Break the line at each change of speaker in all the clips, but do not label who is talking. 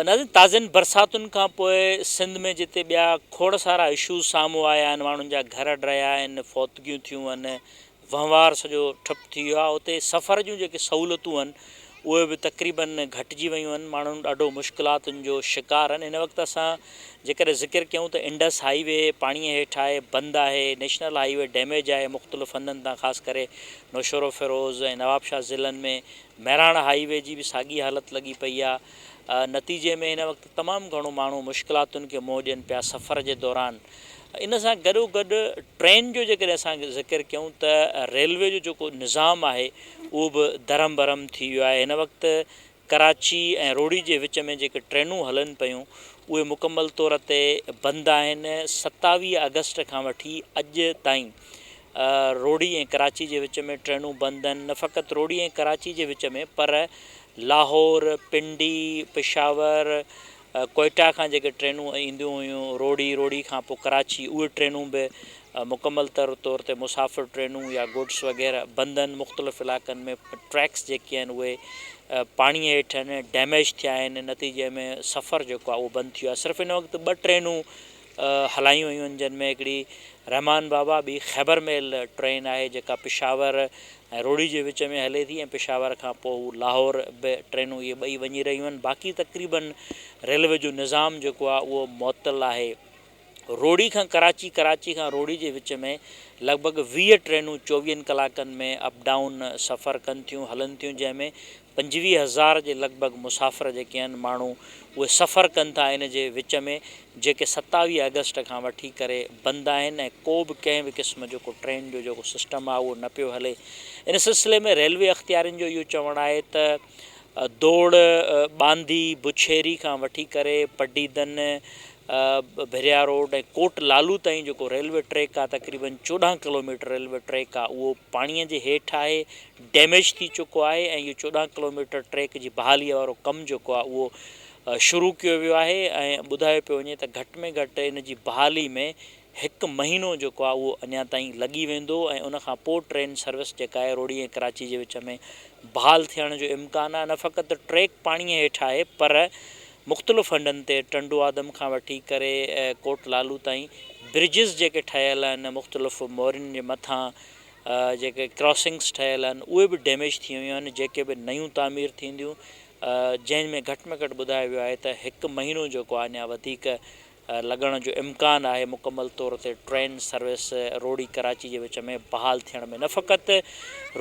ناظرين تازين برساتن کان پوء سنڌ ۾ جتي ٻيا کوڙ سارا اشوز سامهون آيا آهن ماڻهن جا گهر ڊهيا آهن فوتگيون ٿيون آهن وهنوار سڄو ٺپ ٿي ويو آهي اتي سفر جون جيڪي سهولتون آهن اهي به تقريبن گهٽجي ويون آهن ماڻهن ڏاڍو مشڪلاتن جو شڪار آهن هن وقت اسان جيڪڏهن ذڪر ڪيون ته انڊس هائي وي پاڻي هيٺ آهي بند آهي نيشنل هائي وي ڊيميج آهي مختلف هنڌن تان خاص ڪري نوشهروفيروز ۽ نوابشاهه ضلعن ۾ مهراڻ هائي وي جي به ساڳي حالت لڳي پئي آهي نتيجي ۾ هن وقت تمام گهڻو ماڻهو مشڪلاتن کي منهن ڏين پيا سفر جي دوران ان سان گڏو گڏ ٽرين جو جيڪڏهن اسان ذڪر ڪيون ته ريلوي جو جيڪو نظام آهي اهو به درهم برهم ٿي ويو آهي هن وقت ڪراچي ۽ روهڙي جي وچ ۾ جيڪي ٽرينون هلن پيون اهي مڪمل طور تي بند آهن ستاويهه آگسٽ کان وٺي اڄ تائين روھڙي ۽ ڪراچي جي وچ ۾ ٽرينون بند آھن، نه فقط روھڙي ۽ ڪراچي جي وچ ۾ پر لاھور، پنڊي، پشاور، ڪوئيٽا کان جيڪي ٽرينون اينديون ھيون روھڙي، روھڙي کان پوء ڪراچي اھي ٽرينون به مڪمل طور تي مسافر ٽرينون يا گڊس وغيره بند آھن، مختلف علائقن ۾ ٽريڪس جيڪي آھن اھي پاڻي ھيٺ آھن، ڊيميج ٿيا آھن نتيجي ۾ سفر جيڪو آھي اھو بند ٿي ويو آھي صرف ھن وقت ٻه ٽرينون هلايون ويون جن ۾ هڪڙي رحمان بابا ٻي خيبر ميل ٽرين آهي جيڪا پشاور ۽ روهڙي جي وچ ۾ هلي ٿي ۽ پشاور کان پوء هو لاهور به ٽرينون اهي ٻئي وڃي رهيون آهن باقي تقريباً ريلوي جو نظام جيڪو آهي اهو معطل آهي روهڙي کان ڪراچي ڪراچي کان روهڙي جي وچ ۾ لڳ ڀڳ ويهه ٽرينون چوويهن ڪلاڪن ۾ اپ ڊائون سفر ڪن ٿيون هلن ٿيون جنهن ۾ پنجويهه هزار جي لڳ ڀڳ مسافر جيڪي آهن ماڻهو اهي سفر ڪن ٿا ان جي وچ ۾ جيڪي ستاويهه آگسٽ کان وٺي ڪري بند آهن ۽ ڪو به ڪنهن به قسم جو ڪو ٽرين جو جيڪو سسٽم آهي اهو نه پيو هلي ان سلسلي ۾ ريلوي اختيارين جو اهو چوڻ آهي ته دوڙ ٻانڌي بڇيري کان وٺي ڪري پڊيدن ڀريا روڊ ۽ ڪوٽ لالو تائين جيڪو ريلوي ٽريڪ آهي تقريبن چوڏهن ڪلوميٽر ريلوي ٽريڪ آهي اهو پاڻي جي هيٺ آهي ڊيميج ٿي چڪو آهي ۽ اهو چوڏهن ڪلوميٽر ٽريڪ جي بحالي وارو ڪم جيڪو آهي اهو شروع ڪيو ويو آهي ۽ ٻڌايو پيو وڃي ته گهٽ ۾ گهٽ ان جي بحالي ۾ هڪ مهينو جيڪو آهي اهو اڃا تائين لڳي ويندو ۽ ان کان پوء ٽرين سروس جيڪا آهي روهڙي ۽ ڪراچي جي وچ ۾ بحال ٿيڻ جو امڪان آهي نه فقط ٽريڪ پاڻي هيٺ آهي پر مختلف هنڌن تي ٽنڊو آدم کان وٺي ڪري ڪوٽ لالو تائين برجز جيڪي ٺهيل آهن مختلف مورين جي مٿان جيڪي ڪراسنگس ٺهيل آهن اهي به ڊيميج ٿي ويون آهن جيڪي به نيون تعمير ٿينديون جنهن ۾ گهٽ ۾ گهٽ ٻڌايو ويو آهي ته هڪ مهينو جيڪو آهي اڃا وڌيڪ لڳڻ جو امڪان آهي مڪمل طور تي ٽرين سروس روهڙي ڪراچي جي وچ ۾ بحال ٿيڻ ۾ نه فقط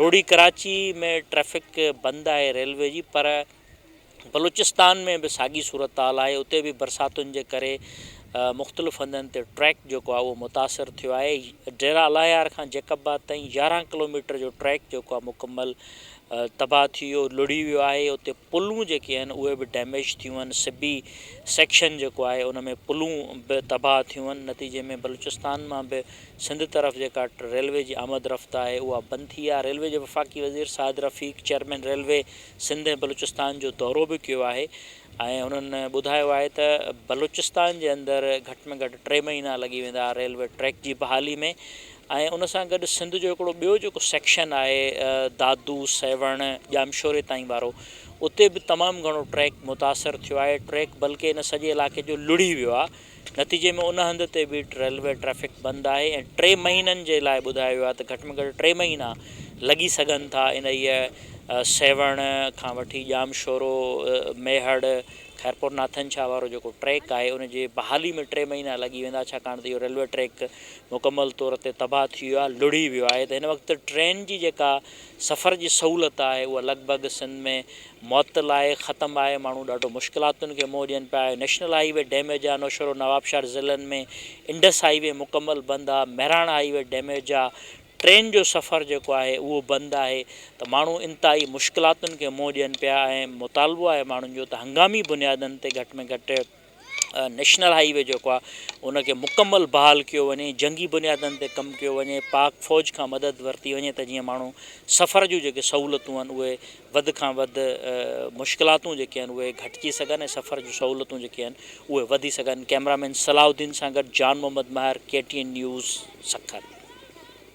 روهڙي ڪراچي ۾ ٽريفڪ بند آهي ريلوي جي پر بلوچستان ۾ به ساڳي صورتحال آهي، اتي به برساتن جي ڪري مختلف هنڌن تي ٽريڪ جيڪو آهي اهو متاثر ٿيو آهي، ڊيره الاهيار کان جيڪب آباد تائين يارهن ڪلوميٽر جو ٽريڪ جيڪو آهي مڪمل تباهه ٿي ويو لڙهي ويو آهي، اتي پلون جيڪي آهن اهي به ڊيميج ٿيون آهن، سبي سيڪشن جيڪو آهي ان ۾ پلون به تباهه ٿيون آهن، نتيجي ۾ بلوچستان مان به سنڌ طرف جيڪا ريلوي جي آمد رفت آهي اها بند ٿي آهي، ريلوي جي وفاقي وزير سعد رفيق، چيئرمين ريلوي سنڌ ۽ بلوچستان جو دورو به ڪيو آهي ۽ هنن ٻڌايو آهي ته بلوچستان جي اندر گهٽ ۾ گهٽ ٽي مهينا لڳي ويندا ريلوي ٽريڪ جي بحالي ۾ ۽ ان سان گڏ سنڌ جو هڪڙو ٻيو جيڪو سيڪشن آهي دادو سيوهڻ ڄامشوري تائين وارو اتي به تمام گهڻو ٽريڪ متاثر ٿيو آهي ٽريڪ بلڪه ان سڄي علاقي جو لڙهي ويو آهي نتيجي ۾ ان هنڌ تي به ريلوي ٽريفڪ بند آهي ۽ ٽي مهينن جي لاء ٻڌايو ويو آهي ته گهٽ ۾ گهٽ ٽي مهينا لڳي سگهن ٿا انهيء سيوهڻ کان وٺي ڄامشورو، ميهڙ، خيرپور ناٿن شاهه وارو جيڪو ٽريڪ آهي ان جي بحالي ۾ ٽي مهينا لڳي ويندا ڇاڪاڻ ته اهو ريلوي ٽريڪ مڪمل طور تي تباهه ٿي ويو آهي لڙهي ويو آهي ته هن وقت ٽرين جي جيڪا سفر جي سهولت آهي اها لڳ ڀڳ سنڌ ۾ معطل آهي ختم آهي ماڻهو ڏاڍو مشڪلاتن کي منهن ڏين پيا نيشنل هائي وي ڊيميج آهي نوشهرو نوابشاھر ضلعن ۾ انڊس هائي وي مڪمل بند آ مهراڻ هائي وي ڊيميج آ ٽرين جو سفر جيڪو آهي اهو بند آهي ته ماڻهو انتهائي مشڪلاتن کي منهن ڏين پيا ۽ مطالبو آهي ماڻهن جو ته هنگامي بنيادن تي گهٽ ۾ گهٽ نيشنل هائي وي جيڪو آهي ان کي مڪمل بحال ڪيو وڃي جنگي بنيادن تي ڪم ڪيو وڃي پاڪ فوج کان مدد ورتي وڃي ته جيئن ماڻهو سفر جون جيڪي سهولتون آهن اهي وڌ کان وڌ مشڪلاتون جيڪي آهن اهي گهٽجي سگهن ۽ سفر جون سهولتون جيڪي آهن اهي وڌي سگهن ڪئميرا مين صلاح الدين سان گڏ Jan Muhammad Mehr K T N news Sukkur